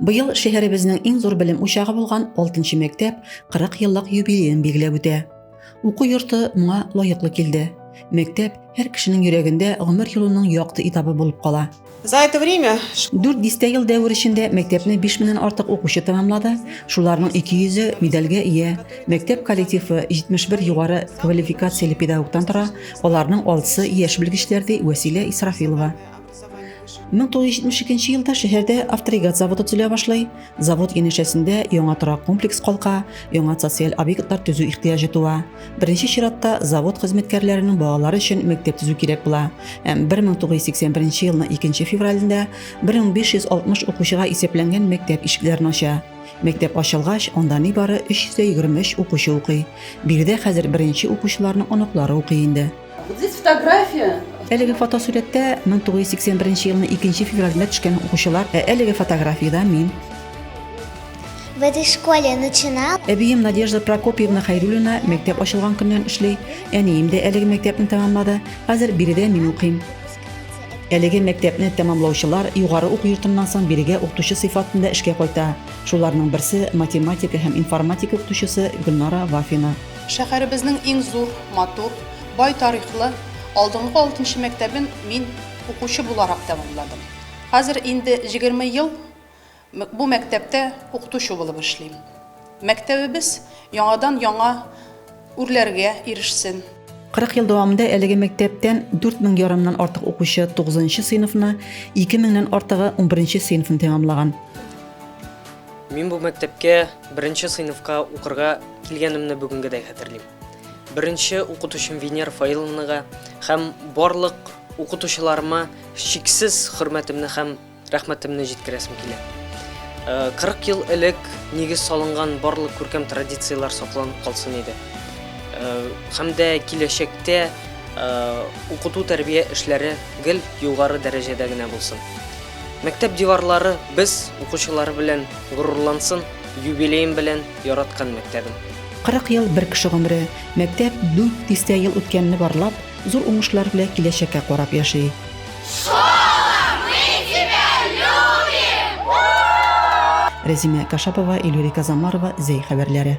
Быел шәһәребезнең иң зур белем учагы булган 6 мәктәп 40 еллык юбилеен билгеләп үтә. Уку йорты моңа лаеклы килде. Мәктәп һәр кешенең йөрәгендә гомер юлының якты этабы булып кала. За это время 4 дистә ел дәвер эчендә мәктәпне 5 меңнән артык укучы тәмамлады, шуларның 200-е медальгә ия. Мәктәп коллективы 71 югары квалификацияле педагогтан тора, аларның алтысы яшь белгечләр, ди Вәсилә Исрафилова. 1972 елда шәһәрдә авторигат заводы төзелә башлый. Завод янәшәсендә яңа торак комплекс калка, яңа социаль объектлар төзү ихтыяҗы туа. Беренче чиратта завод хезмәткәрләренең балалары өчен мәктәп төзү кирәк була. Һәм 1981 елның 2 февралендә 1560 укучыга исәпләнгән мәктәп ишекләрен ача. Мәктәп ачылгач, анда нибары 323 укучы укый. Биредә хәзер беренче укучыларның оныклары укый инде. Әлеге фотосурәттә 1981 елның 2 февралендә төшкән укучылар. Ә әлеге фотографиядә мин. В этой школе начинал. Әбием Надежда Прокопьевна Хайрулина мәктәп ачылган көннән эшли. Әнием дә әлеге мәктәпне тәмамлады. Хәзер биредә мин укыйм. Әлеге мәктәпне тәмамлаучылар югары уку йортыннан соң бирегә укытучы сыйфатында эшкә кайта. Шуларның берсе математика һәм информатика укытучысы Гөлнара Вафина. Шәһәребезнең иң зур, матур, бай тарихлы алдынгы алтынчы мәктәбен мин укучы буларак тәмамладым. Хәзер инде җигерме ел бу мәктәптә укытучы булып эшлим. Мәктәбебез яңадан яңа үрләргә ирешсен. Кырык ел дәвамында әлеге мәктәптән дүрт мең ярымнан артык укучы тугызынчы сыйныфны, ике меңнән артыгы унберенче сыйныфны тәмамлаган. Мин бу мәктәпкә беренче сыйныфка укырга килгәнемне бүгенгедәй хәтерлим. Беренче укытучым Венер Фаиловнага һәм барлык укытучыларыма чиксез хөрмәтемне һәм рәхмәтемне җиткерәсем килә. 40 ел элек нигез салынган барлык күркәм традицияләр сакланып калсын иде. Һәм дә киләчәктә укыту тәрбия эшләре гел югары дәрәҗәдә генә булсын. Мәктәп диварлары без укучылары белән горурлансын, юбилеем белән, яраткан мәктәбем! 40 ел бер кеше гомере, мәктәп 4 дистә ел үткәнне барлап, зур уңышлар белә киләчәккә карап яши. Школа, мы тебя любим! Рәзимә Кашапова, Ильюрика Замарова, Зәй хәбәрләре.